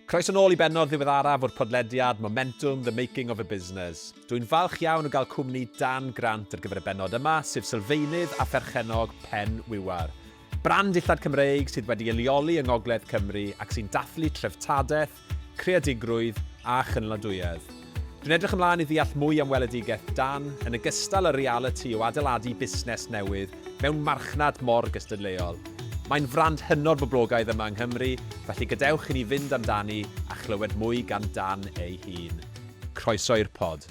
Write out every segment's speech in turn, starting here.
Croeso nôl i bennod ddiweddaraf o'r podlediad Momentum, The Making of a Business. Dw i'n falch iawn o gael cwmni Dan Grant ar gyfer y bennod yma, sef sylfaenydd a pherchennog Pen Wiwar. Brand dillad Cymreig sydd wedi ei leoli yng Ngogledd Cymru ac sy'n dathlu treftadaeth, creadigrwydd a chynaliadwyedd. Dwi'n edrych ymlaen i ddeall mwy am weledigaeth dan, yn ogystal â'r realiti o adeiladu busnes newydd mewn marchnad mor gystadleuol. Mae'n frand hynod boblogaidd yma yng Nghymru, felly gadewch i ni fynd amdani a chlywed mwy gan Dan ei hun. Croeso i'r pod.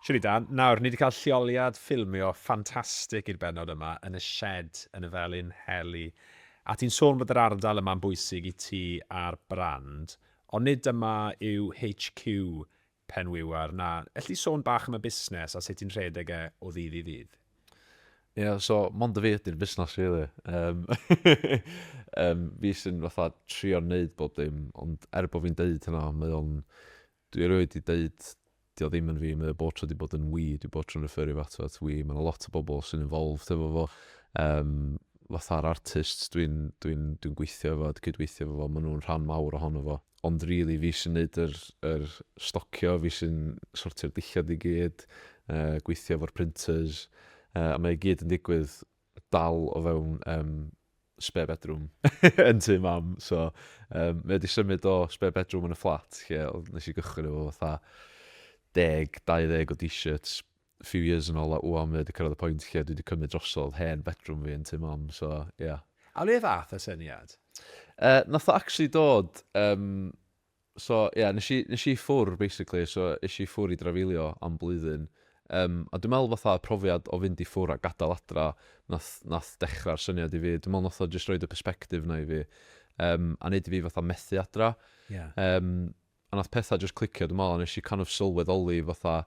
Shwmae Dan, nawr, ni 'di cael lleoliad ffilmio ffantastig i'r bennod yma yn y shed yn y Felin Heli. A ti'n sôn bod yr ardal yma'n bwysig i ti a'r brand, ond nid dyma yw HQ Penwiwer na, elli di sôn bach am y busnes a sut ti'n rhedeg e o ddydd i ddydd? Ie, so mond fi ydy'r busnes rili. Yym yym fi sy'n fatha trio neud bob dim, ond er bo fi'n deud hynna mae o'n Dwi erioed 'di deud 'di o ddim yn fi, mae o bob tro 'di bod yn 'we', dwi bob tro'n referio fo ato fo at 'we', ma' 'na lot o bobl sy'n involved hefo fo, yym, fatha'r artists dwi'n dwi'n dwi'n gweithio efo, dwi'n cydweithio efo fo, ma' nhw'n rhan mawr ohono fo. Ond rili fi sy'n neud yr yr stocio, fi sy'n sortio'r dillad i gyd, yy gweithio efo'r printers, yy a mae o i gyd yn digwydd dal o fewn yym spare bedroom yn tŷ mam, so um, mae wedi symud o spare bedroom yn y fflat lle nes i gychwyn efo fatha deg, 20 o t-shirts few years yn ôl a wwan mae wedi cyrraedd y pwynt lle dwi wedi cymryd drosodd hen bedroom fi yn tŷ mam, so ie. Yeah. A le ddath y syniad? Uh, nath o actually dod um, So ie, nes i nes i ffwr' basically, so es i ffwr' i drafeilio am blwyddyn, yym a dwi me'wl fatha profiad o fynd i ffwr' a gadal adra nath nath dechra'r syniad i fi, dwi me'wl nath o jyst roid y perspective 'na i fi, yym a neud i fi fatha methu adra. Ie. Yym a nath petha jyst clicio dwi me'wl a nes i kind of sylweddoli fatha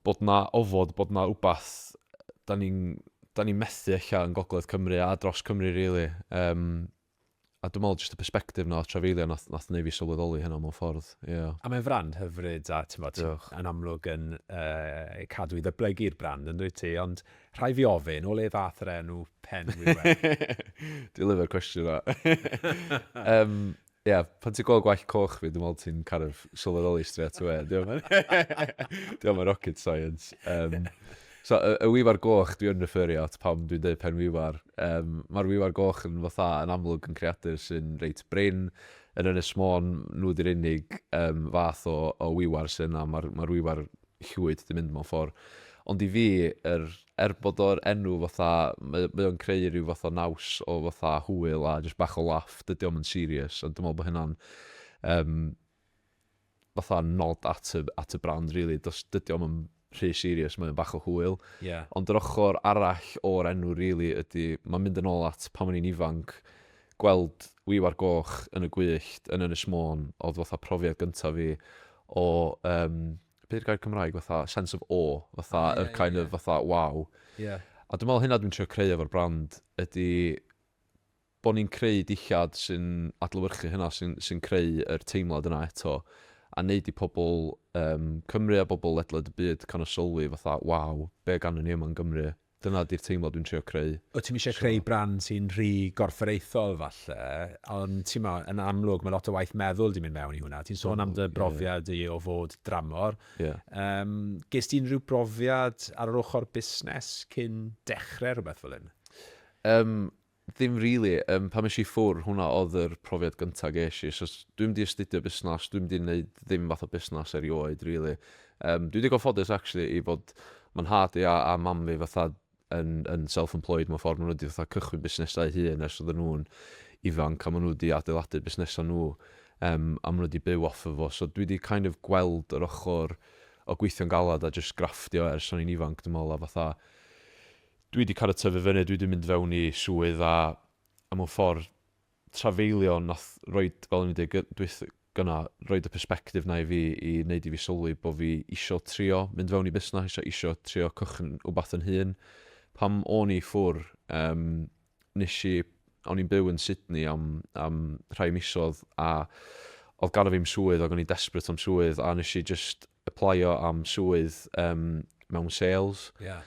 bod 'na ofod, bod 'na wbath 'dan ni'n 'dan ni'n methu ella yn gogledd Cymru a dros Cymru rili, yym a dwi'n meddwl jyst y perspective 'na o trafeilio nath nath neu' fi sylweddoli hynna mewn ffordd, ie. A mae'n frand hyfryd a t'mod... Diolch. ...yn amlwg yn yy cadw i ddyblygu'r brand yndwyt ti ond rhai' fi ofyn o le ddath yr enw Pen Wŷr Wen? Dwi'n lyfio'r cwestiwn 'na. Yym ie pan ti'n gweld gwallt coch fi dwi'n meddwl ti'n kind of sylweddoli straight away 'di o'm yn 'di o'm yn rocket science yym. So y y wiwar goch dwi yn referio at pan dwi'n deud pen wiwar, yym ma'r wiwar goch yn fatha yn amlwg yn creadur sy'n reit brin, yn Ynys Môn nhw 'di'r unig yym fath o o wiwar sy' yna, ma'r ma'r wiwar llwyd 'di mynd mewn ffor'. Ond i fi yr er bod o'r enw fatha mae o mae o'n creu ryw fath o naws o fatha hwyl a jyst bach o laff, dydi o'm yn serious a dwi me'wl bo' hynna'n yym fatha nod at y, at y brand rili, does, dydy o'm yn rhy serious, mae o'n bach o hwyl. Ie. Ond yr ochr arall o'r enw rili ydy, mae'n mynd yn ôl at pan o'n i'n ifanc, gweld Wiwar Goch yn y gwyllt yn Ynys Môn oedd fatha profiad gyntaf fi o yym, be 'di'r gair Cymraeg, fatha sense of awe, fatha O, ie, yr ie, kind ie. of fatha waw. Ie. A dwi'n meddwl hynna dwi'n trio creu efo'r brand ydy bod ni'n creu dillad sy'n adlewyrchu hynna, sy'n sy'n creu yr teimlad yna eto, a wneud i pobl yym Cymru a bobl ledled y byd kind of sylwi fatha, waw, be ganddyn ni yma yn Gymru? Dyna ydy'r teimlad dwi'n trio creu. Wyt ti'm eisiau creu brand sy'n rhy gorfforaethol falle, ond timod, yn amlwg mae lot o waith meddwl 'di mynd mewn i hwnna. Ti'n sôn am dy brofiad di o fod dramor. Yym, ges ti unrhyw brofiad ar yr ochr busnes cyn dechrau rhywbeth fel hyn? Yym, Ddim rili, yym pan es i ffwr' hwnna o'dd yr profiad gynta' ges i, so s- dwi'm 'di astudio busnas, dwi'm 'di neud ddim fath o busnas erioed rili. Yym dwi digon ffodus actually i fod ma' nhad fi a a mam fi fatha yn yn self employed mewn ffor, ma' nhw 'di fatha cychwyn busnesau eu hun ers oddan nhw'n ifanc a ma' nhw 'di adeiladu busnesa' nhw yym a ma' nhw 'di byw off of o, so dwi 'di kind of gweld yr ochor o gweithio'n galad a jyst grafftio ers o'n i'n ifanc dwi me'wl a fatha dwi wedi cael y tyfu fyny, dwi wedi mynd fewn i swydd a, a mewn ffordd trafeilio nath roed, fel o'n i'n dweud gy- dwyth- gyna, roed y persbectif na i fi i wneud i fi sylwi bod fi isio trio mynd fewn i busnes, isio isio trio cychwyn wbath yn hun. Pam o'n i ffwr, um, nes i, o'n i'n byw yn Sydney am, am rhai misodd a oedd gan o fi'm swydd ac o'n i'n desperate am swydd a nes i just aplaio am swydd um, mewn sales. Yeah.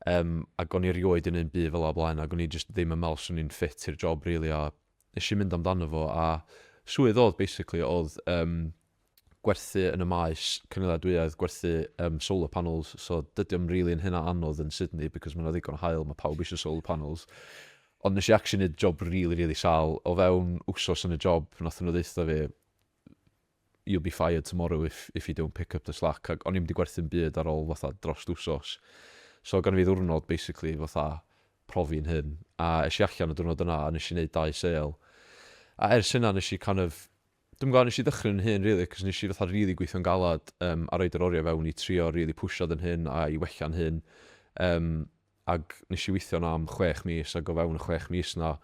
Um, ac o'n i rioed yn un byd fel o blaen, ac o'n i just ddim yn meddwl swn i'n ffit i'r job, really, a nes i mynd amdano fo, a swydd oedd, basically, oedd um, gwerthu yn y maes cynaliadwyedd, gwerthu um, solar panels, so dydy o'n really yn hynna anodd yn Sydney, because mae'n ddigon o hael, mae pawb eisiau solar panels. Ond nes i actually neud job really, really sal. O fewn wsos yn y job, nath nhw ddeitha fi, you'll be fired tomorrow if if you don't pick up the slack ac o'n i'm 'di gwerthu'm byd ar ôl fatha drost wsos so gynno fi ddiwrnod basically fatha profi'n hyn a es i allan y diwrnod yna a nes i neud dau sale a ers hynna nes i kind of dwi'm yn gwbo nes i ddychryn yn hyn rili cos nes i fatha rili gweithio'n galad yym a roid yr oriau fewn i trio rili pwsio fy hyn a i wella'n hyn yym ac nes i weithio yna am chwech mis ac o fewn y chwech mis yna,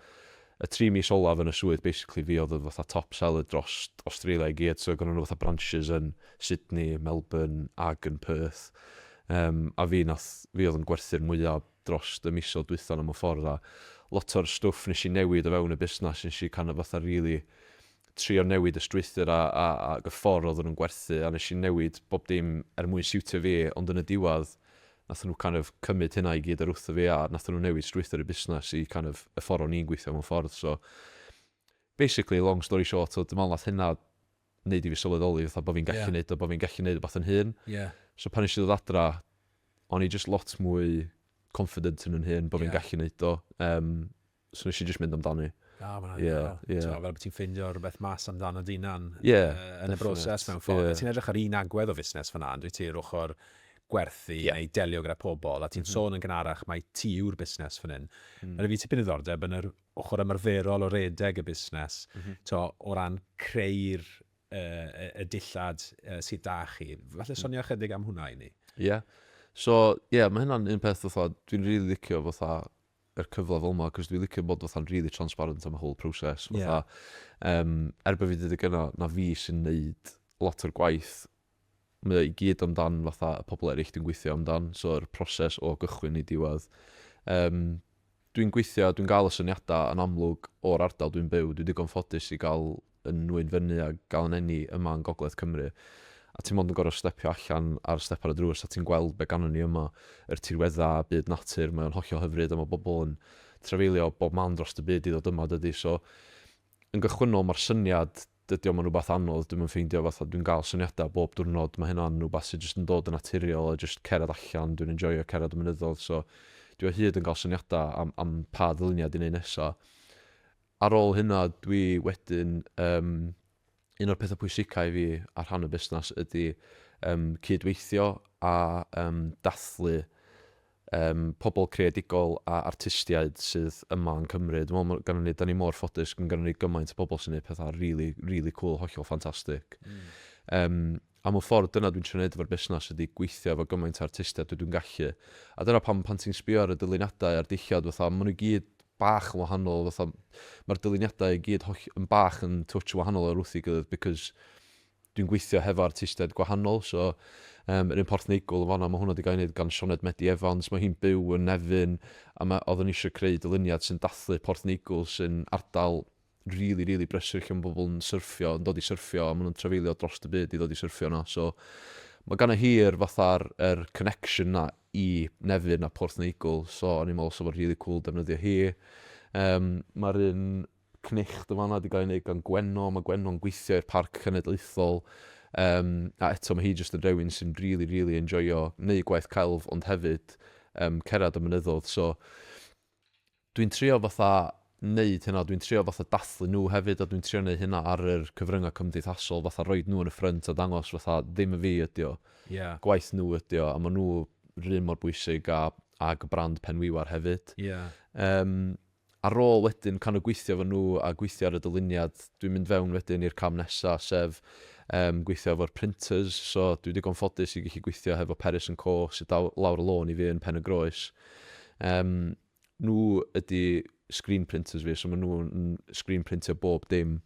y tri mis olaf yn y swydd basically fi oedd y fatha top seller drost Australia i gyd so gynnon nhw fatha branches yn Sydney, Melbourne ac yn Perth yym a fi nath fi oedd yn gwerthu'r mwya drost y misoedd dwytha yna mewn ffordd a lot o'r stwff nes i newid o fewn y busnas nes i kind of fatha rili trio newid y strwythur a a ag y ffor oedden nhw'n gwerthu a nes i newid bob dim er mwyn siwtio fi ond yn y diwadd nathon nhw kind of cymyd hynna i gyd or wrtho fi a nathon nhw newid strwythur y busnes i kind of y ffor o'n i'n gweithio mewn ffordd so basically long story short so dwi me'wl nath hynna neud i fi sylweddoli fatha bo' fi'n gallu yeah. neud o bo' fi'n gallu neud wbath yn hun yeah. so pan nes i ddod adra o'n i just lot mwy confident yn yn hun bo' yeah. fi'n gallu neud o um, So nes i jyst mynd amdani. Na, mae'n anhygoel. Yeah, yeah. Ti'n fel bod ti'n ffeindio rhywbeth mas amdano dynan yeah, uh, yn y broses mewn ffordd. Yeah. Ti'n edrych ar un agwedd o fusnes fyna, dwi ti'n ochr gwerthu yeah. neu delio gyda pobl, a ti'n mm -hmm. sôn yn gynharach mae ti yw'r busnes fan hyn. Mm. Mae fi tipyn ddiddordeb yn yr ochr ymarferol o redeg y busnes, mm -hmm. to, o ran creu'r uh, y dillad uh, sydd da chi. Falle mm. sonio ychydig am hwnna i ni. Ie. Yeah. So, ie, yeah, mae hynna'n un peth fatha, dwi'n rili really licio fatha yr cyfle fel 'ma, 'c'os dwi licio bod fatha'n rili transparent am y whole process, fatha, yym, er bo' fi 'di deud gynna, na fi sy'n neud lot o'r gwaith, mae o i gyd amdan fatha y pobl eryll dwi'n gweithio amdan, so yr proses o gychwyn i diwedd. Yym, dwi'n gweithio, dwi'n gael y syniadau yn amlwg o'r ardal dwi'n byw, dwi digon ffodus i gael yn nwy'n fyny a gael yn eni yma yn gogledd Cymru a ti mond yn gorfod stepio allan ar step ar y drws a ti'n gweld be gannon ni yma, yr tirweddau a byd natur, mae o'n hollol hyfryd a mae bobl yn trafeilio o bob man drost y byd i ddod yma dydy so yn gychwynnol mae'r syniad dydy o'm yn rhywbeth anodd dwi'm yn ffeindio fatha dwi'n gael syniadau bob diwrnod mae hynna'n rhywbeth sydd jyst yn dod yn naturiol a jyst cerdded allan dwi'n enjoyo cerdded y mynyddoedd so dwi o hyd yn cael syniadau am, am pa ddyluniad i wneud nesaf Ar ôl hynna dwi wedyn yym un o'r petha pwysica i fi ar rhan y busnas ydi yym cyd-weithio a yym dathlu yym pobl creadigol a artistiaid sydd yma yn Cymru. Dwi me'wl ma' gynnon ni 'dan ni mor ffodus ma' gynnon ni gymaint o pobl sy'n neud petha rili rili cŵl hollol ffantastic. Hmm. Yym. Am y ffordd dyna dwi'n trio neud efo'r busnas ydi gweithio efo gymaint o artistiaid dwi dwi'n gallu a dyna pam pan ti'n sbio ar y dyluniadau a'r dillad fatha ma' nhw i gyd bach yn wahanol fatha ma'r dyluniadau i gyd holl- yn bach yn twtsh yn wahanol o'r wrth ei gilydd because dwi'n gweithio hefo artistiaid gwahanol so Yym yr un Porth Neigwl yn fan'na ma' hwnna 'di gael ei wneud gan Sioned Medi Evans ma' hi'n byw yn Nefyn a ma' oeddwn i eisiau creu dyluniad sy'n dathlu Porth Neigwl sy'n ardal rili rili brysur lle ma' pobl yn syrffio yn dod i syrffio a ma' nhw'n trafeilio drost y byd i ddod i syrffio yno so ma' ganddo hi'r fatha'r yr connection 'na i Nefyn a Porth Neigwl so o'n i'n meddwl 'sa fo'n rili cŵl defnyddio hi. Yym ma'r un cnicht yn fan'na 'di gael ei wneud gan Gwenno ma' Gwenno'n gweithio i'r Parc Cenedlaethol yym a eto ma' hi jyst yn rywun sy'n rili rili enjoio neud gwaith celf ond hefyd yym cerdded y mynyddoedd so Dwi'n trio fatha neud hynna, dwi'n trio fatha dathlu nhw hefyd a dwi'n trio neud hynna ar yr cyfryngau cymdeithasol, fatha roid nhw yn y ffrynt a dangos fatha ddim yn fi ydi o, Ie. gwaith nhw ydi o a maen nhw 'r un mor bwysig a ag y brand Pen Wiwar hefyd. Ie. Yym, ar ôl wedyn kind of gweithio efo nhw a gweithio ar y dyluniad, dwi'n mynd fewn wedyn i'r cam nesa sef yym gweithio efo'r printers, so dwi digon ffodus i gallu gweithio hefo Peris and Co sy daw- lawr y lôn i fi yn Pen-y-groes. Yym. Nhw ydy screen printers fi, so maen nhw yn screen printio bob dim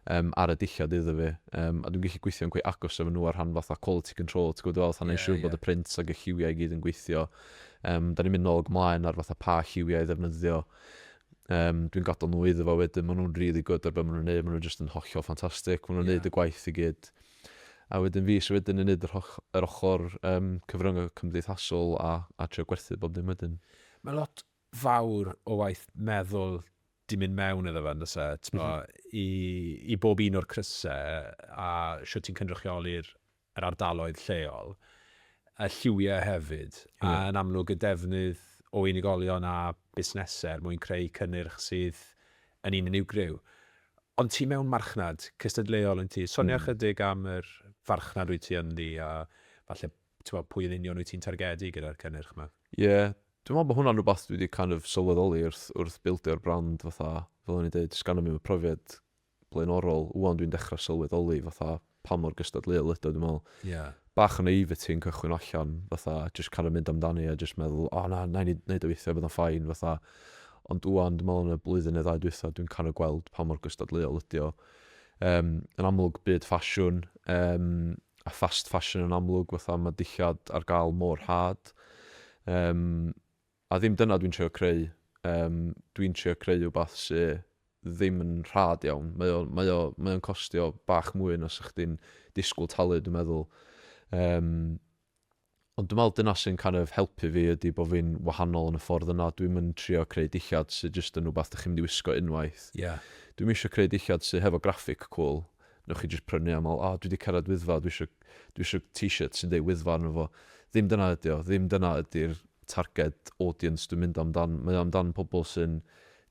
um, ar y dillad iddo fi. Um, a dwi'n gallu gweithio'n quite agos efo nhw ar rhan fatha quality control, ti'n gwybod fel, fatha yeah, siŵr yeah. bod y print ac y lliwiau i gyd yn gweithio. Um, da ni'n mynd nôl gymlaen ar fatha pa lliwiau i ddefnyddio. Um, dwi'n gadael nhw iddo fo wedyn, maen nhw'n really good ar beth maen nhw'n neud, maen nhw'n just yn hollol ffantastig, maen nhw'n yeah. neud y gwaith i gyd. A wedyn fi sy'n wedyn yn neud yr, yr ochr um, cyfryngau cymdeithasol a, a trio gwerthu bob dim wedyn. Mae lot fawr o waith meddwl 'di mynd mewn iddo fe yn does e? Tibod, i i bob un o'r crysau a shwt ti'n cynrychioli'r yr ardaloedd lleol, y lliwiau hefyd, a yn amlwg y defnydd o unigolion a busnesau er mwyn creu cynnyrch sydd yn un unigryw. Ond ti mewn marchnad cystadleuol yn ti. Sonia ychydig am yr farchnad wyt ti ynddi a falle t'mo' pwy yn union wyt ti'n targedu gyda'r cynnyrch 'ma? Ie, dwi'n me'wl bo' hwnna'n rwbath dwi 'di kind of sylweddoli wrth wrth bildio brand fatha, fel o'n i'n deud, does ganddom ni'm y profiad blaenorol, ŵan dwi'n dechra sylweddoli fatha pa mor gystadleuol ydi o, dwi'n me'wl... Ie. ...bach o naivety yn cychwyn allan fatha jyst kind of mynd amdani a jyst meddwl o na, na'i neud neud o weithia bydd o'n fine fatha, ond ŵan dwi'n me'wl yn y blwyddyn neu ddau dwytha dwi'n kind of gweld pa mor gystadleuol ydi o. Yym yn amlwg byd ffasiwn, yym a fast fashion yn amlwg fatha ma' dillad ar gael mor rhad yym a ddim dyna dwi'n trio creu yym dwi'n trio creu wbath sy ddim yn rhad iawn mae o mae o mae o'n costio bach mwy na 'sa chdi'n disgwyl talu dwi'n meddwl yym Ond dwi'n meddwl dyna sy'n kind of helpu fi ydy bod fi'n wahanol yn y ffordd yna. Dwi'm yn trio creu dillad sy jyst yn rhywbeth dych chi'n mynd i wisgo unwaith. Ie. Dwi'm isio creu dillad sy hefo graphic cwl, newch chi jyst prynu a meddwl, O, dwi 'di cyrraedd Wyddfa, dwi isio, dwi isio t-shirt sy'n deud Wyddfa arno fo. Ddim dyna ydy o. Ddim dyna ydy'r targed audience dwi'n mynd amdan. Mae o amdan pobl sy'n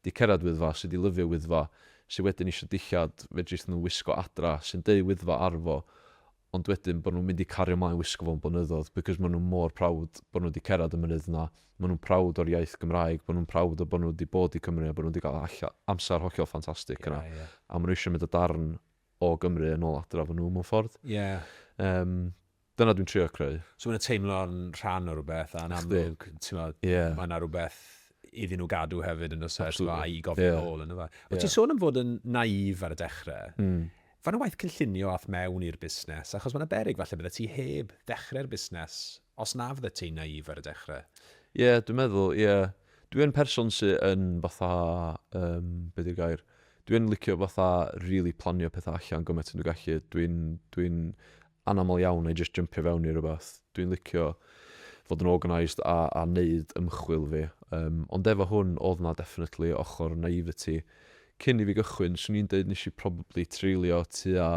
'di cyrraedd Wyddfa, sy 'di lyfio Wyddfa, sy wedyn isio dillad fedrith nhw wisgo adra, sy'n deud Wyddfa ar fo, ond wedyn bod nhw'n mynd i cario mlaen wisgo fo'n blynyddoedd because maen nhw mor proud bod nhw wedi cerdded y mynydd yna, maen nhw'n proud o'r iaith Gymraeg, maen nhw'n proud o bod nhw wedi bod i Cymru a bod nhw wedi cael amser hollol ffantastig yna a maen nhw eisiau mynd â darn o Gymru yn ôl adra efo nhw mewn ffordd. Yym, dyna dwi'n trio creu. So maen nhw'n teimlo'n rhan o rhywbeth a'n amlwg, timod, mae yna rhywbeth iddyn nhw gadw hefyd yn y sefyllfa a'i gofyn yn ôl, yn y fe. O't ti'n sôn am fod yn naïf ar y dechrau. Fan y waith cynllunio ath mewn i'r busnes, achos mae yna beryg falle byddet ti heb ddechrau'r busnes os na fyddet ti'n naïf ar y dechrau. Ie, dwi'n meddwl, ie. Dwi yn person sy yn fatha, yym, be di'r gair? Dwi yn licio fatha rili planio pethau allan gymaint â dwi'n gallu. Dwi'n, dwi'n, anaml iawn i jyst jympio fewn i rywbeth. Dwi'n licio fod yn organised a a neud ymchwil fi. Yym ond efo hwn o'dd 'na definitely ochor naivety cyn i fi gychwyn. Swn i'n deud nesh i probably treulio tua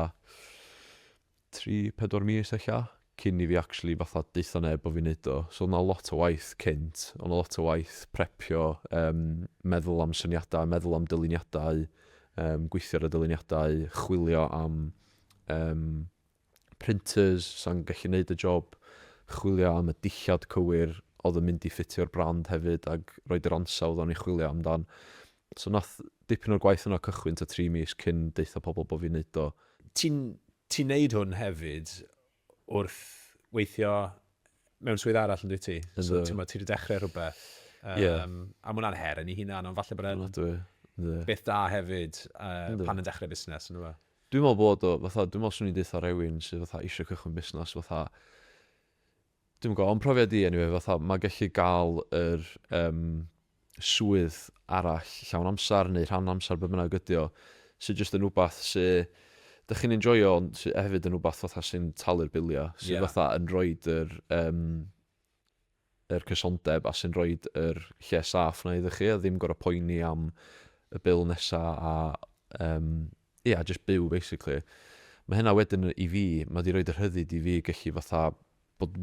tri, pedwar mis ella cyn i fi actually fatha deutho neb bo' fi'n neud o. So o'dd 'na lot o waith cynt. O' 'na lot o waith prepio yym meddwl am syniada, meddwl am dyluniadau, yym gweithio ar y dyluniadau, chwilio am yym, printers, sa'n gallu wneud y job, chwilio am y dillad cywir oedd yn mynd i ffitio'r brand hefyd ac roid yr ansawdd o'n i'n chwilio amdan. So wnaeth dipyn o'r gwaith yna cychwyn tua tri mis cyn deutha pobl bod fi'n wneud o. Ti'n ti'n wneud hwn hefyd wrth weithio mewn swydd arall yn dwi ti. So, ti'n ti wedi dechrau rhywbeth. Um, yeah. A mwynhau'n her yn ei hunan, ond falle bod e'n beth da hefyd uh, pan yn dechrau busnes. Dwi'n meddwl bod o, fatha, dwi'n meddwl swn i'n dweud rhywun sydd fatha eisiau cychwyn busnes, fatha, dwi'n gwybod, ond profiad i, anyway, fatha, mae gallu gael yr, um, swydd arall, llawn amser neu rhan amser, be bynnag ydy o, sy jyst yn wbath sy dych chi'n enjoio ond sy hefyd yn wbath fatha sy'n talu'r biliau, sydd fatha yn rhoid yr yym yr cysondeb a sy'n rhoid yr lle saff 'na iddo chi a ddim gorfod poeni am y bil nesa a yym ia, jyst byw basically. Mae hynna wedyn i fi, mae wedi rhoid y rhyddid i fi gallu fatha bod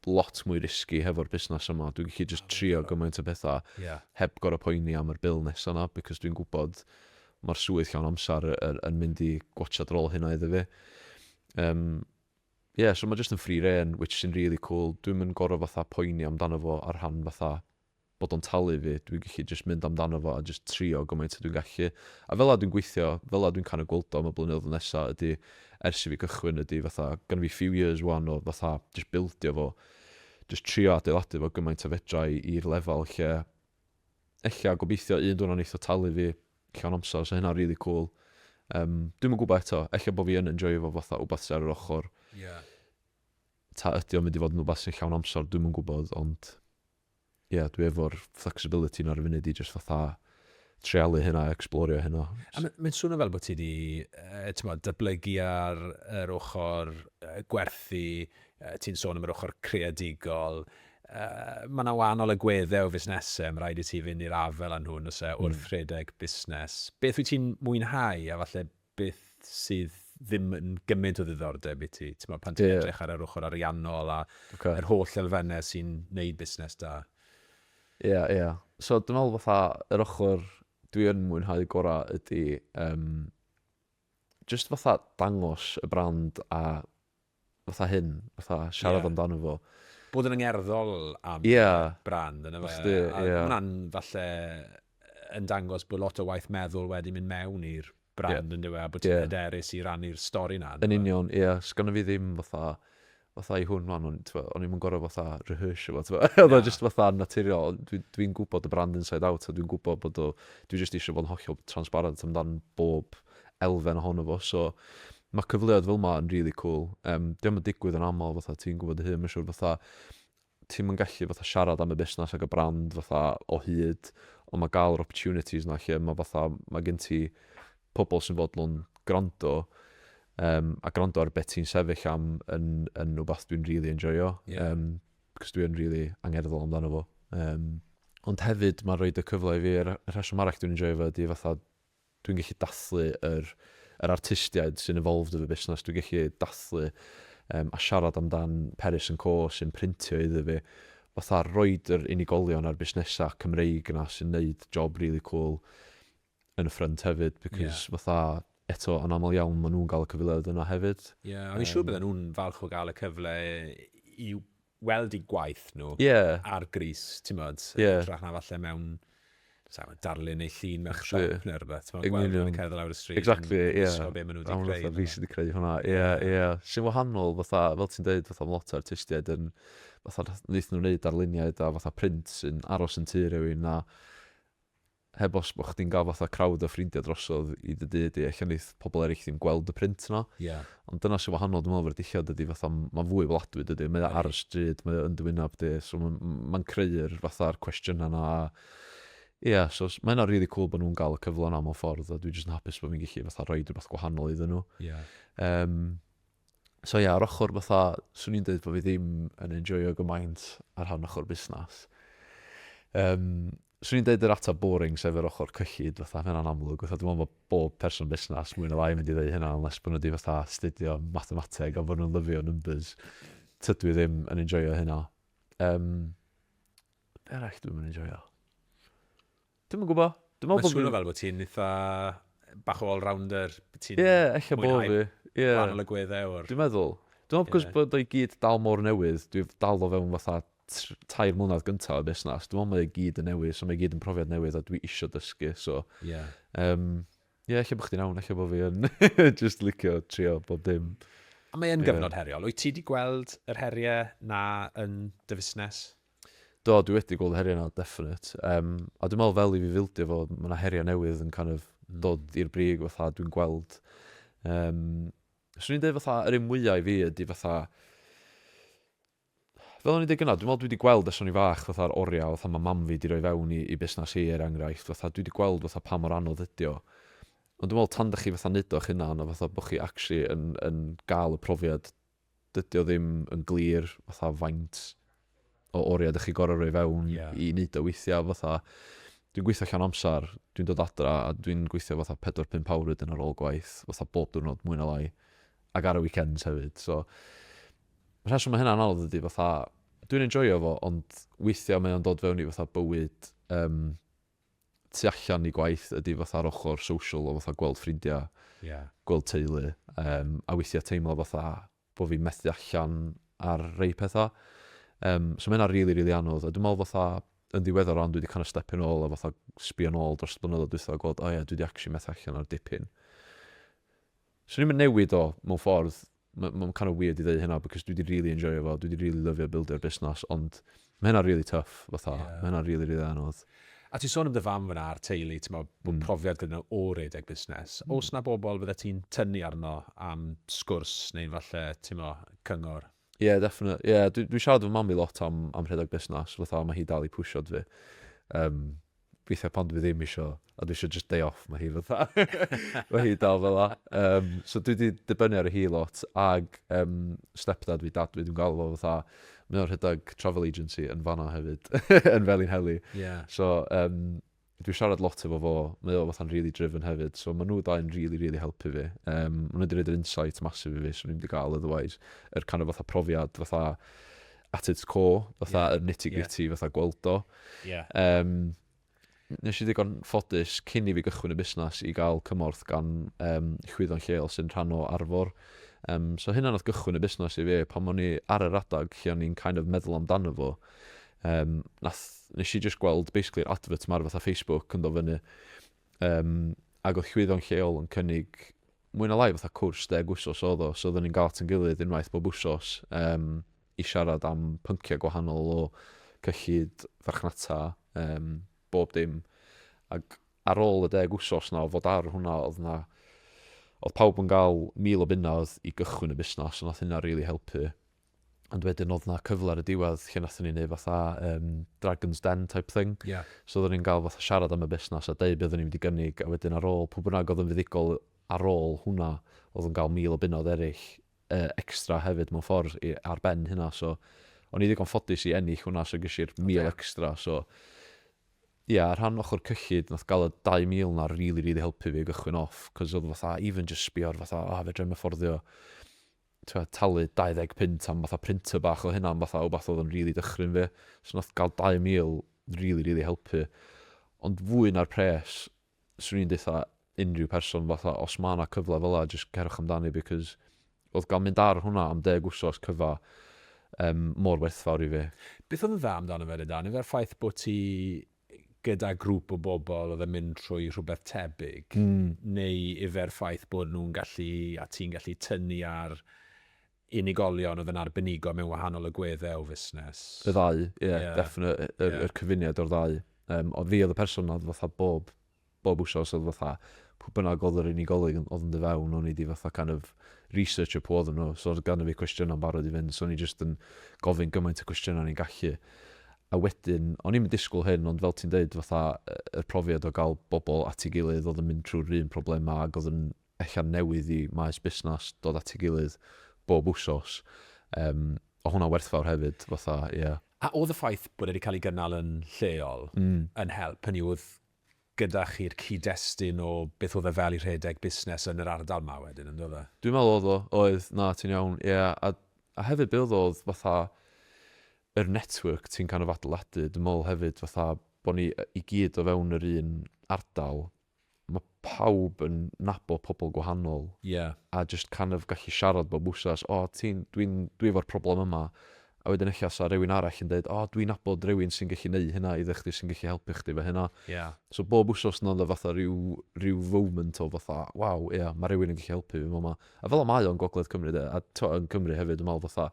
lot mwy risky hefo'r busnes yma. Dwi'n gallu jyst trio gymaint o bethau yeah. heb gorau poeni am yr bil nesaf yna, because dwi'n gwybod mae'r swydd llawn amser yn mynd i gwachad rôl hynna iddo fi. Um, yeah, so mae jyst yn free reign, which sy'n really cool. Dwi'n mynd gorau fatha poeni amdano fo ar rhan fatha bod o'n talu fi, dwi'n gallu jyst mynd amdano fo a jyst trio gymaint a dwi'n gallu. A fel 'na dwi'n gweithio, fel 'na dwi'n kind of gweld o am y blynyddoedd nesa ydi, ers i fi cychwyn ydi fatha, gynna fi few years ŵan o fatha jyst bildio fo, jyst trio adeiladu fo gymaint a fedra i i'r lefel lle ella gobeithio un diwrnod neith o talu fi llawn amser, so hynna'n rili cŵl. Yym, dwi'm yn gwybod eto, ella bo' fi yn enjoio fo fatha wbath sy ar yr ochr. Ie. Ta ydi o'n mynd i fod yn wbath sy'n llawn amser, dwi'm yn gwybod, ond... ie, dwi efo'r flexibility 'na ar y funud i jyst fatha treialu hynna, ecsblorio hynna. A mae'n swnio fel bod ti wedi uh, datblygu ar yr ochr uh, gwerthu, uh, ti'n sôn am yr ochr creadigol, uh, mae yna wahanol agweddau o fusnesau, mae rhaid i ti fynd i'r afel â nhw nos e, wrth hmm. rhedeg busnes. Beth wyt ti'n mwynhau a falle beth sydd ddim yn gymaint o ddiddordeb i ti, timod, pan ti'n edrych ar yr ochr ariannol a yr holl elfennau sy'n neud busnes da? Ie, ie. So dwi'n meddwl fatha, yr ochr dwi yn mwynhau gorau ydy, jyst fatha dangos y brand a fatha hyn, fatha siarad yeah. amdano fo. Bod yn yngerddol am yeah. brand yna fe. Sti, a yeah. hwnna'n falle yn dangos bod lot o waith meddwl wedi mynd mewn i'r brand yeah. yn dweud, a bod ti'n yeah. hyderus i rannu'r stori na. Yn union, ie. Yeah. Sgan fi ddim fatha fatha i hwn man, o'n i'n mynd gorau fatha rehearse fo, oedd o just fatha naturiol, dwi'n dwi gwybod y brand inside out, a dwi'n gwybod bod o, dwi just eisiau bod yn hollol transparent amdan bob elfen ohono fo. So mae cyfleoedd fel yma yn really cool. Um, Diolch yn digwydd yn aml, fatha ti'n gwybod dy hun, mae'n siŵr fatha ti'n yn gallu fatha siarad am y busnes ac y brand fatha o hyd, ond mae gael yr opportunities yna lle mae fatha, mae gen ti pobl sy'n fodlon gwrando um, a gwrando ar beth ti'n sefyll am yn, yn rhywbeth dwi'n really enjoyo. Yeah. Um, cos dwi'n really angerddol amdano fo. Um, ond hefyd mae'n rhoi y cyfle i fi, y rheswm arall dwi'n enjoyo fo ydy fatha Dwi'n gallu dathlu yr yr artistiaid sy'n involved efo busnes, dwi'n gallu dathlu yym a siarad amdan Peris and Co sy'n printio iddo fi, fatha roid yr unigolion a'r busnesau Cymreig 'na sy'n neud job rili cwl yn y ffrynt hefyd Ie. because fatha eto yn aml iawn ma' nhw'n gael y cyfleoedd yna hefyd. Ie a fi'n siŵr bydden nhw'n falch o gael y cyfle i weld eu gwaith nhw ar grys, timod, yn hytrach na falle mewn, sa i'n gwbod, darlun eu llun mewn siop neu rywbeth, timod, gweld nhw'n cerdded lawr y stryd yn gwisgo be maen nhw 'di creu. Yn union, fatha fi sy 'di creu hwnna, ie, ie. Sy'n wahanol, fatha, fel ti'n deud, fatha ma' lot o artistiaid yn, fatha, wnaethon nhw wneud darluniau da, fatha print sy'n aros yn tŷ rhywun a, heb os bod chdi'n cael fatha crowd o ffrindiau drosodd i dy dŷ di, ella wneith pobl eraill ddim gweld y print yna. Ie. Ond dyna sy'n wahanol dwi'n meddwl efo'r dillad ydy fatha mae'n fwy weladwy dydy? Mae o ar y stryd, mae o yn dy wyneb di, so mae'n mae'n creu'r fatha'r cwestiynau yna a ia, so s- mae hynna'n rili cŵl bod nhw'n gael y cyfle yna mewn ffordd a dwi jyst yn hapus bod fi'n gallu fatha rhoid rywbeth gwahanol iddyn nhw. Ie. Yym. So ia, ar ochr fatha, swn i'n dweud bod fi ddim yn enjoio gymaint ar rhan ochr busnes. Um, swn i'n dweud yr ateb boring sef yr ochr cyllid fatha, mae'n amlwg. Fatha, dwi'n meddwl bod bob person busnes mwy na lai mynd i ddweud hynna, unless bod nhw wedi fatha studio mathemateg a bod nhw'n lyfio numbers. Tydw i ddim yn enjoio hynna. Um, be arall dwi'n mynd enjoio? Dwi'm yn gwbo. Dwi'n meddwl bod fi'n... Mae'n swnio fel bod ti'n eitha bach o all-rounder. Bod ti'n mwynhau gwahanol agweddau o'r... Dwi'n meddwl. Dwi'n meddwl cos bod o i gyd dal mor newydd. Dwi 'di dal o fewn fatha tair mlynedd gyntaf y busnes. Dwi'n meddwl mae o i gyd yn newydd so mae o i gyd yn profiad newydd a dwi isio dysgu so... Ie. ...Yym ie ella bod chdi'n iawn ella bod fi yn jyst licio trio bob dim. Mae o'n gyfnod heriol. Wyt ti 'di gweld yr heriau 'na yn dy fusnes? Do, dwi wedi gweld y heriau 'na, definite. Yym, a dwi'n meddwl fel i fi fildio fo, ma' 'na heriau newydd yn kind of dod i'r brig fatha dwi'n gweld. Yym, 'swn i'n deud fatha, yr un mwya i fi ydy fatha, fel o'n i'n deud gyna, dwi'n meddwl dwi wedi gweld ers o'n i'n fach fatha'r oriau fatha ma' mam fi wedi rhoi fewn i, i busnes hi er enghraifft, fatha dwi wedi gweld fatha pa mor anodd ydy o. Ond dwi'n meddwl tan da chi fatha neud o'ch hunan a fatha bod chi actually yn, yn gael y profiad dydy o ddim yn glir fatha faint o oriau ydych chi gorau rhoi fewn yeah. i wneud o weithiau fatha dwi'n gweithio llawn amser, dwi'n dod adra a dwi'n gweithio fatha 4-5 awr wedyn ar ôl gwaith, fatha bob diwrnod mwy na lai, ac ar y weekends hefyd. So, y rheswm mae hynna'n anodd ydy fatha, dwi'n enjoyo fo, ond weithiau mae o'n dod fewn i fatha bywyd um, tu allan i gwaith ydy fatha'r ochr social o fatha gweld ffrindiau, Ie. gweld teulu, yym, a weithiau teimlo fatha bod fi'n methu allan ar rei pethau. Yym, so mae hynna'n rili, rili anodd. A dwi'n meddwl fatha, yn ddiweddar rŵan dwi wedi kind of stepio nôl a fatha sbio nôl dros y blynyddoedd dwytha a gweld, o ie, dwi wedi actually methu allan ar dipyn. Swn i'm yn newid o, mewn ffordd. M- mae'n kind of weird i ddeud hynna, because dwi 'di rili enjoio fo, dwi 'di rili lyfio bildio busnas, ond ma' hynna'n rili tough, fatha. Ie. Ma' hynna'n rili, rili anodd. A ti'n sôn am dy fam fan'na a'r teulu, timod, bod profiad gyda nhw o redeg busnes. Oes 'na bobl fyddet ti'n tynnu arno am sgwrs neu falle, timod, cyngor? Ie, definite. Ie, dwi dwi siarad efo mam fi lot am am rhedeg busnes, fatha mae hi dal i pwsio dwi. Yym, weithiau pan dwi ddim isio, a dwi isio just day off, mae hi fatha mae hi dal fel 'na. Yym, so dwi 'di dibynnu ar hi lot ag um, stepdad fi, dad fi, dwi'n galw fo fatha mae o'n rhedeg travel agency yn fanna hefyd yn Felin Heli. Yeah. So um, Dwi siarad lot efo fo, mae o fatha'n rili driven hefyd, so ma' nhw dau yn rili rili helpu fi. Yym ma' nhw 'di roid yr insight massive i fi 'swn i'm 'di ga'l otherwise. Yr kind of fatha profiad fatha at its core, fatha yr nitty gritty fatha gweld o. Yym nes i ddigon ffodus cyn i fi gychwyn y busnes i ga'l cymorth gan yym chwyddo'n lleol sy'n rhan o Arfor. Yym so hynna nath gychwyn y busnes i fi pan o'n i ar yr adag lle o'n i'n kind of meddwl amdano fo. Um, nath, nes i just gweld, basically, yr advert ma'r fatha Facebook yn do fyny. Um, ac oedd llwyddo'n lleol yn cynnig mwy na lai fatha cwrs deg wsos oedd o, so oedden ni'n gael at yn gilydd unwaith bob wsos um, i siarad am pynciau gwahanol o cyllid farchnata, um, bob dim. Ac ar ôl y deg wsos na o fod ar hwnna, oedd na, oedd pawb yn gael mil o bunnoedd i gychwyn y busnes, ond oedd hynna rili really helpu. ond wedyn oedd na cyfle ar y diwedd lle nathon ni wneud fatha um, Dragon's Den type thing. Yeah. So oedden ni'n gael fatha siarad am y busnes a dweud beth oedden ni'n mynd i gynnig a wedyn ar ôl, pwy bynnag oedd yn fuddigol ar ôl hwnna, oedd yn cael mil o bunod eraill uh, extra hefyd mewn ffordd i, ar ben hynna. So o'n i ddigon ffodus i ennill hwnna, so gysi i'r mil extra. So ie, yeah, rhan ochr cyllid, nath gael y 2,000 na rili, really, rili really helpu fi gychwyn off, cos oedd fatha, even just sbio'r fatha, oh, fe drem y fforddio tibod, talu 20 punt am fatha printer bach oedd hynna'n fatha wbath oedd yn rili dychryn fi. So wnaeth gael 2,000 rili, rili helpu. Ond fwy na'r pres, 'swn i'n deutha unrhyw person fatha os ma' 'na cyfle fel yna jyst cerwch amdani because oedd gael mynd ar hwnna am deg wsos cyfa yym mor werthfawr i fi. Beth oedd yn dda amdano fe de Dan? Yfe'r ffaith bod ti gyda grŵp o bobl oedd yn mynd trwy rhywbeth tebyg, neu efo'r ffaith bod nhw'n gallu, a ti'n gallu tynnu ar unigolion oedd yn arbenigo mewn wahanol agweddau o fusnes. Y ddau, ie, definitely, yr cyfuniad o'r ddau. Ond fi oedd y person oedd fatha bob bob wsos oedd fatha pwy bynnag oedd yr unigolyn oedd yn dod fewn o'n i 'di fatha kind of researchio pwy oedden nhw so oedd ganddo fi cwestiynau'n barod i fynd so o'n i jyst yn gofyn gymaint o gwestiynau o'n i'n gallu a wedyn o'n i'm yn disgwyl hyn ond fel ti'n deud fatha y profiad o gael bobl at ei gilydd oedd yn mynd trwy'r un problemau ac oedd yn ella'n newydd i maes busnes dod at ei gilydd bob wsos um, o hwnna'n werthfawr hefyd fatha ie yeah. A oedd y ffaith bod e wedi cael ei gynnal yn lleol mm. yn help hynny oedd gyda chi'r cyd-destun o beth oedd e fel i rhedeg busnes yn yr ardal 'ma wedyn, yn doedd e? Dwi'n meddwl oedd o, oedd, na, ti'n iawn, ie, a a hefyd be oedd o oedd fatha yr network ti'n kind of adeiladu, dwi'n meddwl hefyd fatha bod ni i gyd o fewn yr un ardal, mae pawb yn nabod pobl gwahanol... Ie. ...a jyst kind of gallu siarad bob wsnos, o ti'n, dwi'n, dwi efo'r problem yma, A wedyn ella 'sa rywun arall yn deud, 'O, dwi'n nabod rywun sy'n gallu neud hynna iddo chdi, sy'n gallu helpu chdi efo hynna. Ia. So bob wsos yna oedd 'na fatha ryw ryw foment o fatha, 'Waw, ia, ma' rywun yn gallu helpu fi fama. A fel 'na mae o yn Gogledd Cymru 'de, a tibod, yn Cymru hefyd, dwi'n meddwl fatha,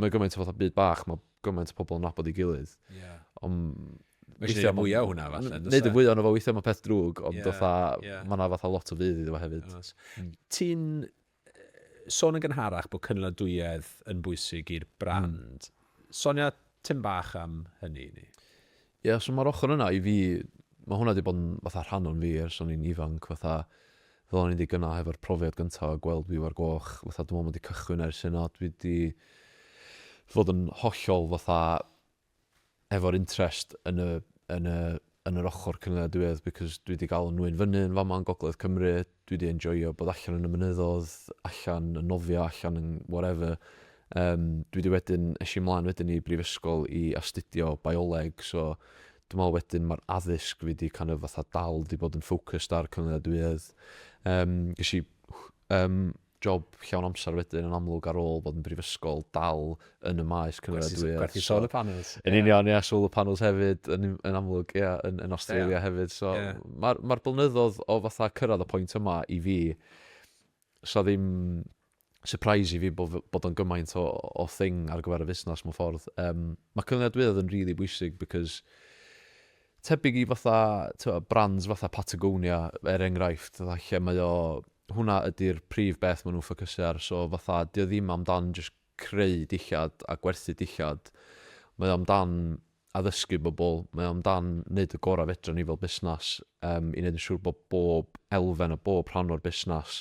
mae o gymaint o fatha byd bach, mae gymaint o pobl yn nabod ei gilydd. Ia. Ond Mae eisiau gwneud mwy o hwnna, falle. yn does Neud y e? fwy o'n efo weithiau mae peth drwg, ond Ie, fatha, ie. mae yna fatha lot o fudd iddo fo hefyd. Oes. Ti'n Sôn yn gynharach bod cynaliadwyedd yn bwysig i'r brand. Sonia tym bach am hynny i ni. Ie, so mae'r ochr yna i fi, mae hwnna wedi bod yn fatha rhan o'n fi ers o'n i'n ifanc, fatha fel o'n i'n dweud gynnau hefo'r profiad gyntaf o gweld Byw ar Goch, fatha dwi'n meddwl mae 'di cychwyn ers hynna, dwi 'di fod yn hollol fatha, efo'r interest yn y yn y yn yr ochr cynaliadwyedd because dwi 'di ga'l 'y nŵyn fyny yn fama yn gogledd Cymru, dwi 'di enjoio bod allan yn y mynyddodd, allan yn nofio, allan yn whatever. Yym dwi 'di wedyn, es i mlaen wedyn i brifysgol i astudio bioleg so dwi me'wl wedyn ma'r addysg fi 'di kind of fatha dal 'di bod yn focused ar cynaliadwyedd. Yym gesh i yym job llawn amser wedyn yn amlwg ar ôl bod yn brifysgol dal yn y maes cynaliadwyedd. Gwerthu solar panels. Yn union, ie, solar panels hefyd, yn, yn amlwg, ie, yn, yn Australia yeah. hefyd. So, yeah. Mae'r ma blynyddoedd o fatha cyrraedd y pwynt yma i fi, so ddim surprise i fi bod, bod o'n gymaint o, o thing ar gyfer y fusnes mewn ffordd. Um, mae cynaliadwyedd yn really bwysig because tebyg i fatha, brands fatha Patagonia, er enghraifft, lle mae o hwnna ydy'r prif beth maen nhw'n ffocysu ar, so fatha 'di o ddim amdan jyst creu dillad a gwerthu dillad, mae o amdan addysgu bobl, mae o amdan wneud y gorau fedrwn ni fel busnes um, i wneud yn siŵr bod bob elfen a bob rhan o'r busnes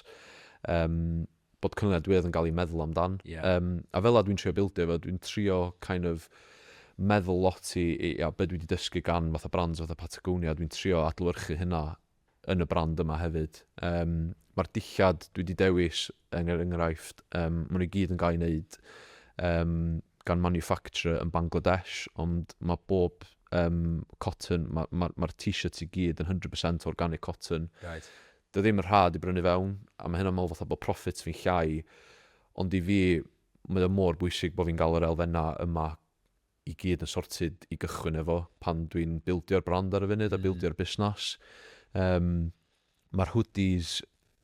um, bod cynlluniau diwedd yn cael ei meddwl amdan. Yeah. Um, a fel a dwi'n trio bildio fo, dwi'n trio kind of meddwl lot i, i a beth dwi wedi dysgu gan fatha brands fatha Patagonia, dwi'n trio adlywyrchu hynna yn y brand yma hefyd. Um, Mae'r dillad dwi wedi dewis, yn er enghraifft, um, maen nhw i gyd yn cael ei wneud um, gan manufacturer yn Bangladesh, ond mae bob um, cotton, mae'r ma, ma, ma t-shirts i gyd yn 100% organic cotton. Right. Dwi ddim yn rhad i brynu fewn, a mae hynna'n meddwl fatha bod profit fi'n llai, ond i fi, mae o mor bwysig bod fi'n gael yr elfennau yma i gyd yn sorted i gychwyn efo pan dwi'n bildio'r brand ar y funud a bildio'r busnes. Um, Mae'r hoodies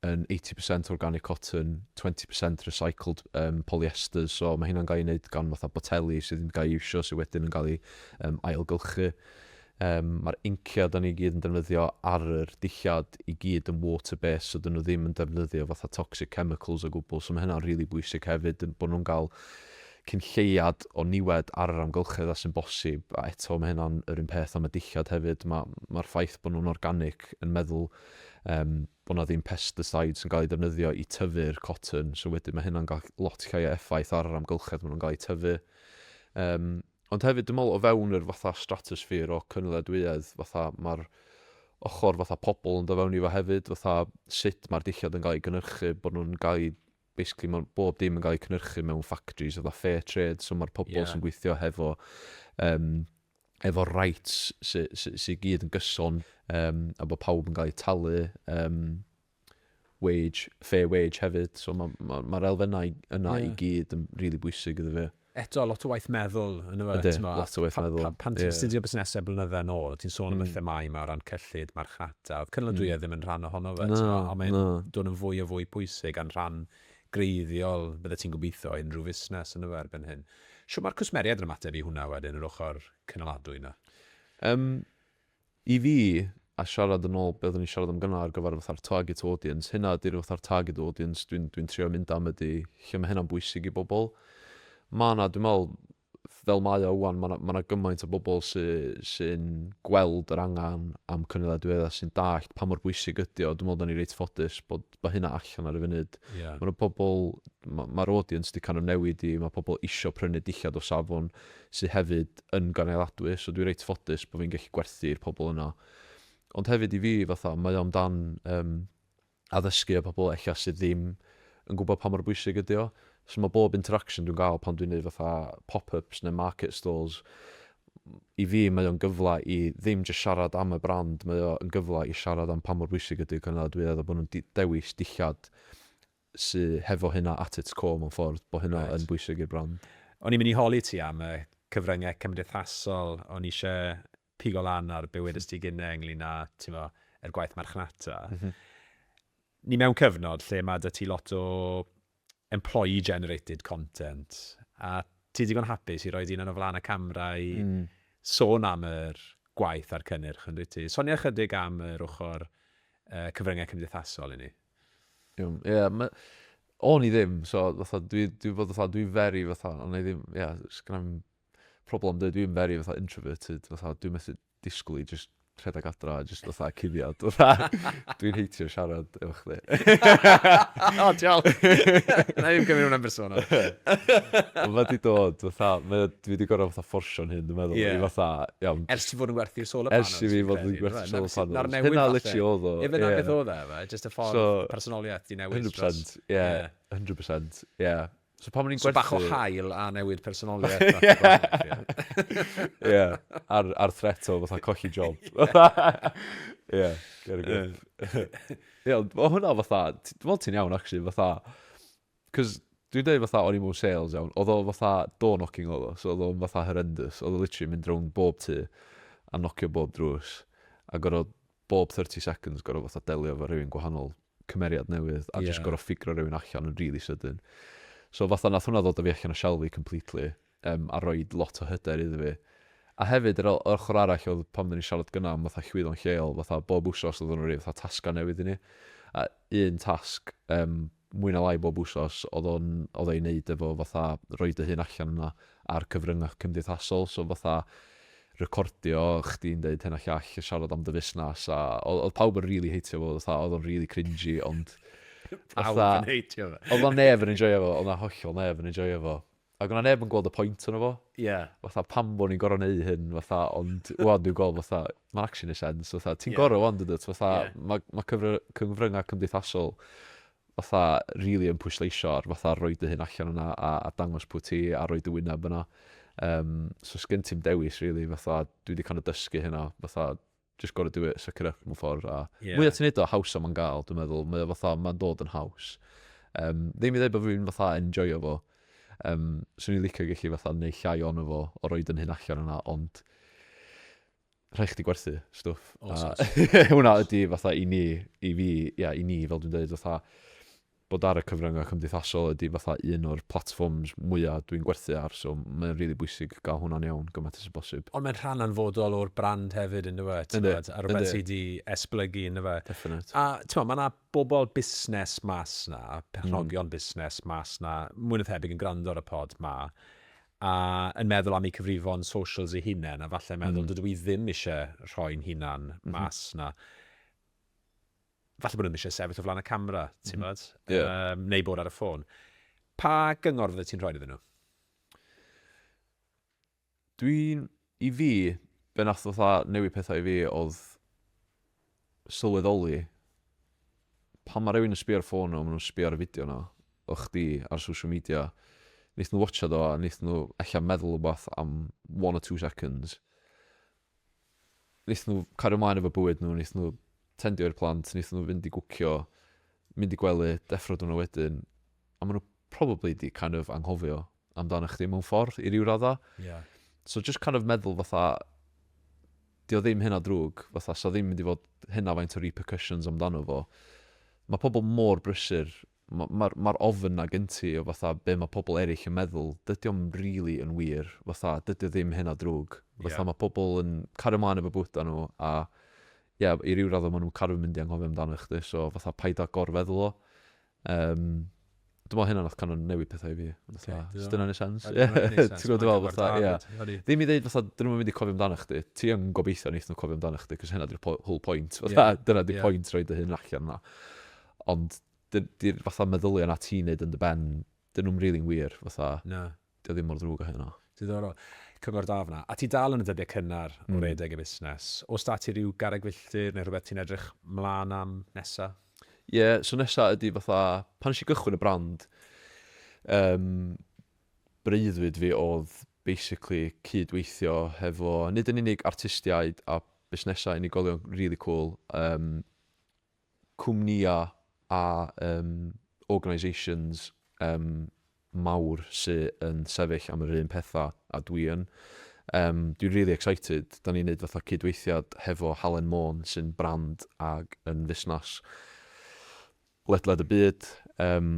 yn 80% organic cotton, 20% recycled um, polyester, so mae hynna'n cael ei wneud gan fatha boteli sydd yn cael ei iwsio sydd wedyn yn cael ei um, ailgylchu. Um, Mae'r inciau da ni gyd yn defnyddio ar yr dillad i gyd yn water-based, so dyn nhw ddim yn defnyddio fatha toxic chemicals o gwbl, so mae hynna'n rili really bwysig hefyd, bod nhw'n cael cyn lleiad o niwed ar yr amgylchedd a sy'n bosib, a eto mae hynna'n yr un peth am y dillad hefyd, ma' ma'r ffaith bod nhw'n organic yn meddwl yym bod 'na ddim pesticides yn cael eu defnyddio i tyfu'r cotton, so wedyn mae hynna'n cael lot llai o effaith ar yr amgylchedd maen nhw'n cael eu tyfu. Yym, ond hefyd dwi'n meddwl o fewn yr fatha stratosphere o cynaliadwyedd, fatha mae'r ochr fatha pobl yn dod fewn i fo hefyd, fatha sut mae'r dillad yn cael ei gynhyrchu, bod nhw'n cael eu basically mae bob dim yn cael ei cynhyrchu mewn factories oedd a fair trade, so mae'r pobl yeah. sy'n gweithio hefo, um, efo rights sy'n sy, sy, sy gyd yn gyson um, a bod pawb yn cael ei talu um, wage, fair wage hefyd, so mae'r ma, ma, ma elfennau yna yeah. i gyd yn rili really bwysig iddo fe. eto lot o waith meddwl yn y Ydy, lot o waith meddwl. Pan ti'n astudio busnesau blynydde yn ôl, ti'n sôn am y themâu yma o ran cyllid, marchnata, oedd cynaliadwyedd ddim yn rhan ohono fe, ond mae'n dod yn fwy a fwy pwysig a'n rhan greiddiol, bydde ti'n gobeithio, o unrhyw fusnes yn y erbyn hyn. Shwt mae'r cwsmeriaid yn ymateb i hwnna wedyn, yr ochr cynaladwy yna? Yym, I fi, a siarad yn ôl be oeddwn i'n siarad am gynna' ar gyfer fatha'r target audience, hynna ydy'r fatha'r target audience dwi'n dwi'n trio mynd am ydy lle ma' hynna'n bwysig i bobl. Ma' 'na, dwi'n meddwl, fel mae o ŵan, ma' 'na ma' 'na gymaint o bobl sy sy'n gweld yr angen am cynulleidfaoedd a sy'n dallt pa mor bwysig ydy o. Dwi'n meddwl 'dan ni reit ffodus bod ma' hynna allan ar y funud. Ie. Ma' 'na pobl, ma' ma'r audience 'di kind of newid i, ma' pobl isio prynu dillad o safon sy hefyd yn gynaliadwy, so dwi reit ffodus bo' fi'n gallu gwerthu i'r pobl yna. Ond hefyd i fi fatha, mae o amdan yym addysgu y pobl ella sydd ddim yn gwbod pa mor bwysig ydi o. So ma' bob interaction dwi'n ga'l pan dwi'n neud fatha pop-ups ne' market stalls, i fi mae o'n gyfle i ddim jyst siarad am y brand, mae o yn gyfle i siarad am pa mor bwysig ydy'r cynaliadwyedd a bod nhw'n dewis dillad sy hefo hynna at its core mewn ffordd, bod hynna yn bwysig i'r brand. O'n i'n mynd i holi ti am y cyfryngau cymdeithasol, o'n i eisiau pigo lan ar be wedest ti gynnau ynglyn â timo, yr gwaith marchnata. Ni mewn cyfnod lle mae 'da ti lot o employee generated content, a ti digon hapus i roi dy hunan o flaen y camera i sôn am yr gwaith a'r cynnyrch, yn dwyt ti? Sonia ychydig am yr ochr yy cyfryngau cymdeithasol i ni. Iawn, ie, ma'... O'n i ddim, so fatha dwi dwi fod fatha dwi'n very fatha, o'n i ddim, ie, sgynna i'm problem dweud dwi'n very fatha introverted fatha dwi'n methu disgwyl i jyst rhedeg adra a jyst fatha cuddiad. Fatha, dwi'n heitio siarad efo chdi. o, diolch. Na i'n gymryd hwnna'n bersonol. Ond mae di dod, fatha, mae, dwi wedi gorau fatha fforsio'n hyn, dwi'n meddwl, yeah. i fatha, iawn. Ers ti fod yn gwerthu'r solar panels. Ers i fi fod yn gwerthu'r solar panels. Na'r newid Hynna literally oedd o. Efe na beth oedd e, just y ffordd so, personoliaeth di newid. 100%, ie, yeah, 100%, ie. Yeah. So pan o'n i'n gwerthu... So bach o hael a newid personoliaeth. Ie, yeah. ar, ar threto, fatha colli job. Ie, yeah, get a grip. Ie, yeah, o hwnna fatha, dwi'n meddwl ti'n iawn, actually, fatha, cos dwi'n dweud fatha, o'n i mewn sales iawn, oedd o fatha door knocking oedd o, so oedd o'n fatha horrendous, oedd o literally mynd rownd bob tu, a nocio bob drws, a gorfod bob 30 seconds gorfod fatha delio efo rhywun gwahanol, cymeriad newydd, a jyst gorfod ffigro rhywun allan yn rili sydyn. So fatha nath hwnna ddod â fi allan o shell fi completely, um, a rhoi lot o hyder iddo fi. A hefyd, yr ochr arall oedd pan oedden ni'n siarad gyna am fatha llwyddo'n lleol, fatha bob wsos oedden nhw'n rhoi fatha tasgau newydd i ni. A un tasg, um, mwy na lai bob wsos, oedd o'n, oedd o i wneud efo fatha rhoi dy hun allan yna ar cyfryngau cymdeithasol, so fatha recordio chdi'n deud hyn a llall, a siarad am dy fusnes, a oedd, oedd pawb yn rili heitio fo, oedd fatha, oedd o'n rili cringy, ond... Pawb yn heitio fo. Oedd na neb yn enjoio fo, oedd na hollol neb yn enjoio fo. Ac o' 'na neb yn gweld y point ono fo. Ie. Fatha pam bo' ni'n gor'o' neu' hyn fatha ond ŵan dwi'n gweld fatha ma'n actually neu' sense fatha ti'n gor'o' ŵan dyndwt fatha ma' ma' cyfry- cyfrynga' cymdeithasol fatha rili yn pwysleisio ar fatha rhoi dy hun allan yna a a dangos pw' ti a rhoi dy wyneb yna. Yym so sgin ti'm dewis rili fatha dwi 'di kind of dysgu hynna fatha just gotta do it, suck it up mewn ffordd. A yeah. mwya ti'n neud o, haws am yn gael, dwi'n meddwl. Mae fatha, mae'n dod yn haws. Um, ddim i ddweud bod fi'n fatha enjoyo fo. Um, Swn i'n licio gallu fatha neu llai ond fo o roed yn hyn allan yna, ond rhaid chdi gwerthu stwff. Oh, a, hwna ydy fatha i ni, i fi, ia, i ni, fel dwi'n dweud, fatha, bod ar y cyfryngau cymdeithasol ydi fatha un o'r platforms mwya dwi'n gwerthu ar, so mae o'n rili bwysig gael hwnna'n iawn gymaint â bosib. Ond mae'n rhan anfodol o'r brand hefyd yn dyw e, t'mod, a rhywbeth sy' 'di esblygu yn dyfe? Definate. A t'mod, ma' 'na bobl busnes mas 'na, perchnogion busnes mas 'na, mwy na thebyg yn gwrando ar y pod 'ma, a yn meddwl am eu cyfrifon socials eu hunain, a falle'n meddwl, dydw i ddim isie rhoi'n hunan mas 'na. falle bod nhw ddim eisiau sefyll o flaen y camera, ti'n mm -hmm. yeah. um, neu bod ar y ffôn. Pa gyngor fydde ti'n rhoi iddyn nhw? Dwi'n, i fi, be nath fatha newid pethau i fi oedd sylweddoli pan mae rhywun yn sbio ar ffôn nhw, maen nhw'n sbio ar y fideo yna, o chdi ar social media, wnaeth nhw watcha do a wnaeth nhw allan meddwl rhywbeth am one or two seconds. wnaethon nhw cario ymlaen efo bywyd nhw, wnaethon nhw tendio i'r plant, wnaethon nhw fynd i gwcio, mynd i gwely, deffro diwrnod wedyn, a maen nhw probably di kind of anghofio amdano chdi mewn ffordd i ryw raddau. Yeah. So just kind of meddwl fatha, di o ddim hynna drwg, fatha, so ddim mynd i fod hynna faint o repercussions amdano fo. Mae pobl mor brysur Ma- ma'r ma'r ofn 'na gen ti o fatha be' ma' pobl eryll yn meddwl, dydi o'm rili yn wir, fatha dydi o ddim hynna drwg. Fatha ma' pobl yn cario mlaen efo bywyda nhw a ia i ryw radda ma' nhw'n caru mynd i anghofio amdano chdi so fatha paid â gorfeddwl o. Yym dwi me'wl hynna nath kind of newid petha i fi. Fatha os dyna'n neud sense? Ie ti'n gwbo' dwi fe'wl fatha ia ddim i ddeud fatha 'dyn nhw'm yn mynd i cofio amdano chdi, ti yn gobeithio neith nhw cofio amdano chdi 'c'os hynna 'di'r po- whole point fatha dyna 'di point rhoid dy hun allan 'na. Ond dy- dy'r fatha meddylia 'na ti'n neud yn dy ben, 'dyn nhw'm rili'n wir, fatha. Na. 'Di o ddim mor ddrwg a hynna. Diddorol. Cyngor da fan'na. A ti dal yn y dyddiau cynnar o redeg y busnes. Oes 'da ti ryw garreg filltir neu rhywbeth ti'n edrych 'mlaen am nesa? Ie, so nesa ydi fatha, pan nes i gychwyn y brand, yym, breuddwyd fi o'dd basically cyd-weithio hefo nid yn unig artistiaid a busnesau unigolion rili cŵl, yym, cwmnïau a yym organisations yym mawr sy yn sefyll am yr un pethau a dwi yn. Yym dwi'n rili excited. Dan ni'n neud fatha cydweithiad hefo Halen Môn sy'n brand ag yn fusnas ledled y byd. Yym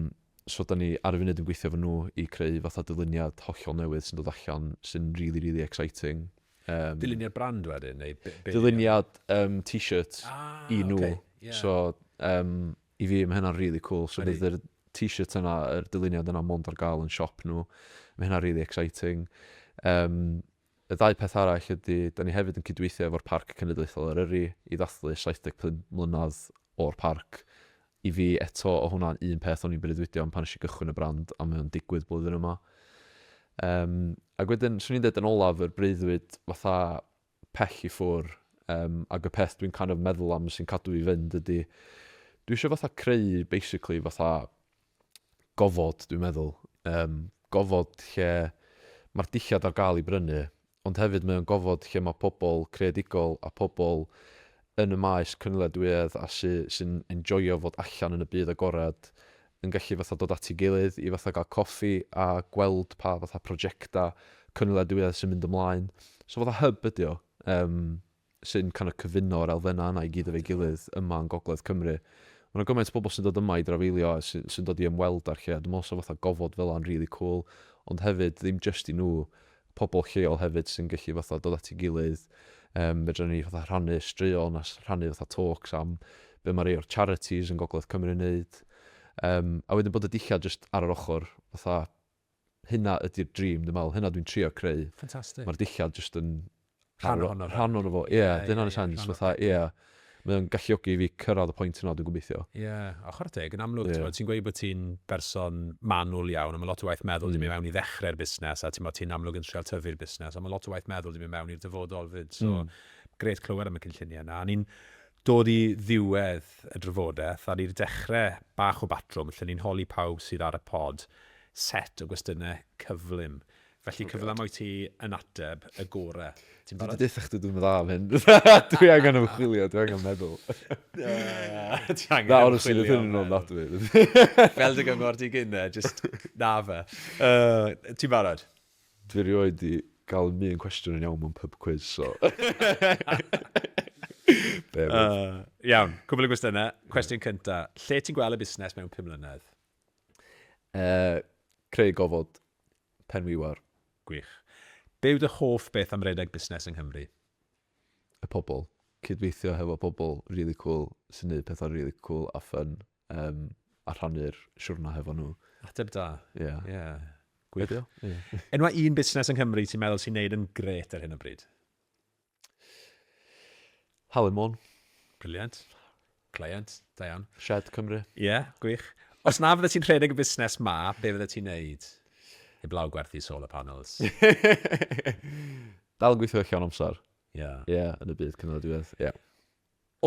so dan ni ar y funud yn gweithio efo nhw i creu fatha dyluniad hollol newydd sy'n dod allan sy'n rili rili exciting. Um, Dyluniad brand wedyn? Neu be, be Dyluniad um, t-shirt ah, i nhw. Okay, yeah. So, um, i fi, mae hynna'n really cool. So, bydd yr t-shirt yna, yr dyluniad yna mond ar gael yn siop nhw. Mae hynna'n really exciting. Um, y ddau peth arall ydy, da ni hefyd yn cydweithio efo'r Parc Cenedlaethol Eryri i ddathlu 75 mlynedd o'r parc I fi, eto, o' hwnna'n un peth o'n i'n breuddwydio am pan nes i gychwyn y brand a mae o'n digwydd blwyddyn yma. Yym, ac wedyn, swn i'n deud yn olaf, yr breuddwyd fatha pell i ffwr', yym, ac y peth dwi'n kind of meddwl am sy'n cadw fi fynd ydi, dwi eisiau fatha creu basically fatha gofod dwi'n meddwl, yym, gofod lle mae'r dillad ar gael i brynu, ond hefyd mae o'n gofod lle mae pobl creadigol a pobl yn y maes cynaliadwyedd a sy- sy'n enjoio fod allan yn y byd agored yn gallu fatha dod at ei gilydd i fatha gael coffi a gweld pa fatha projectau cynaliadwyedd sy'n mynd ymlaen. So fatha hub ydy o. Yym. sy'n kind of cyfuno'r elfennau yna i gyd efo'i gilydd yma yn Gogledd Cymru. Mae yna gymaint o bobl sy'n dod yma i drafeilio a sy'n sy dod i ymweld â'r lle a dwi'n meddwl sa fatha gofod fel yna'n really cool ond hefyd ddim jyst i nhw, pobl lleol hefyd sy'n gallu fatha dod at ei gilydd um, fedra ni fatha rhannu straeon a rhannu fatha talks am be mae rei o'r charities yn Gogledd Cymru yn neud. Um, a wedyn bod y dillad jyst ar yr ochr fatha hynna ydy'r dream dwi'n meddwl, hynna dwi'n trio creu. Ffantastig. Mae'r dillad jyst yn... Rhan ohono fe. Rhan ohono fo, ie. Ie, ie, ie. Dyna'n y sens, fatha, ie. Mae o'n galluogi i fi cyrraedd y pwynt yna, dwi'n gobeithio. Ie, a chwarae teg, yn amlwg, ti'n ti'n gweud bod ti'n berson manwl iawn, a mae lot o waith meddwl wedi mynd mewn i ddechrau'r busnes, a ti'n bod ti'n amlwg yn trial tyfu'r busnes, ond mae lot o waith meddwl wedi mynd mewn i'r dyfodol fyd, so grêt clywed am y cynlluniau yna. A ni'n Dod i ddiwedd y drafodaeth, a ni'n dechrau bach o batrwm lle ni'n holi pawb sydd ar y pod set o gwestiynau cyflym. Felly cyfle yma i ti yn ateb y gore. Ti'n barod? Dwi 'di deutha chdi dwi'm yn dda am hyn. Dwi angen ymchwilio, dwi angen meddwl. Ti angen Na, honestly, ymchwilio. hyn yn ôl nad dwi. Fel dy gyngor di gynne, just na fe. Ti'n barod? Dwi rioed di gael un un cwestiwn yn iawn mewn pub quiz, so... Bear with. Uh, iawn, cwbl o gwestiynau. Cwestiwn cynta, lle ti'n gweld y busnes mewn 5 mlynedd? Uh, creu gofod, pen wiwar. Gwych. Be yw dy hoff beth am redeg busnes yng Nghymru? Y pobl. Cydweithio hefo pobl really cool sy'n neud pethau really cool a fun. um, a rhannu'r siwrna hefo nhw. Ateb da. Ie. Yeah. Yeah. Gwybio. Enwa un busnes yng Nghymru ti'n meddwl sy'n neud yn gret ar hyn o bryd? Halen Môn. Briliant. Client, da iawn. Shed Cymru. Ie, yeah, gwych. Os na fydde ti'n rhedeg y busnes ma, be fydde ti'n neud? Heblaw gwerthu solar panels. Dal yn gweithio llawn amser. Ie. Yeah. Ie, yeah, yn y byd cynnydd diwedd. Ie. Yeah.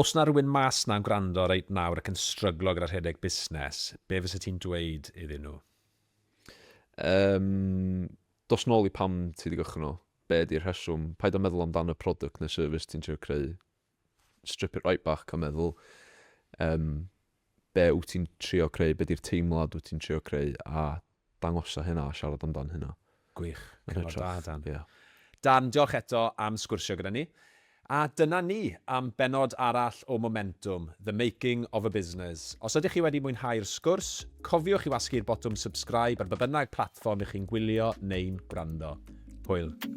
Os na rywun mas na'n gwrando reit nawr ac yn stryglo gyda rhedeg busnes, be fysa ti'n dweud iddyn nhw? Yym, dos nôl i pam ti 'di gychwyn o. Be ydi'r rheswm? Paid â meddwl amdan y product neu service ti'n trio creu. Strip it right back a meddwl, yym, be wyt ti'n trio creu, be di'r teimlad wyt ti'n trio creu a dangosa hynna a siarad amdan hynna. Gwych, cyngor da Dan. Ie. Dan, diolch eto am sgwrsio gyda ni. A dyna ni am bennod arall o Momentwm, The Making of a Business. Os ydych chi wedi mwynhau'r sgwrs, cofiwch i wasgu'r botwm subscribe ar ba bynnag platfform ych chi'n gwylio neu'n gwrando. Hwyl.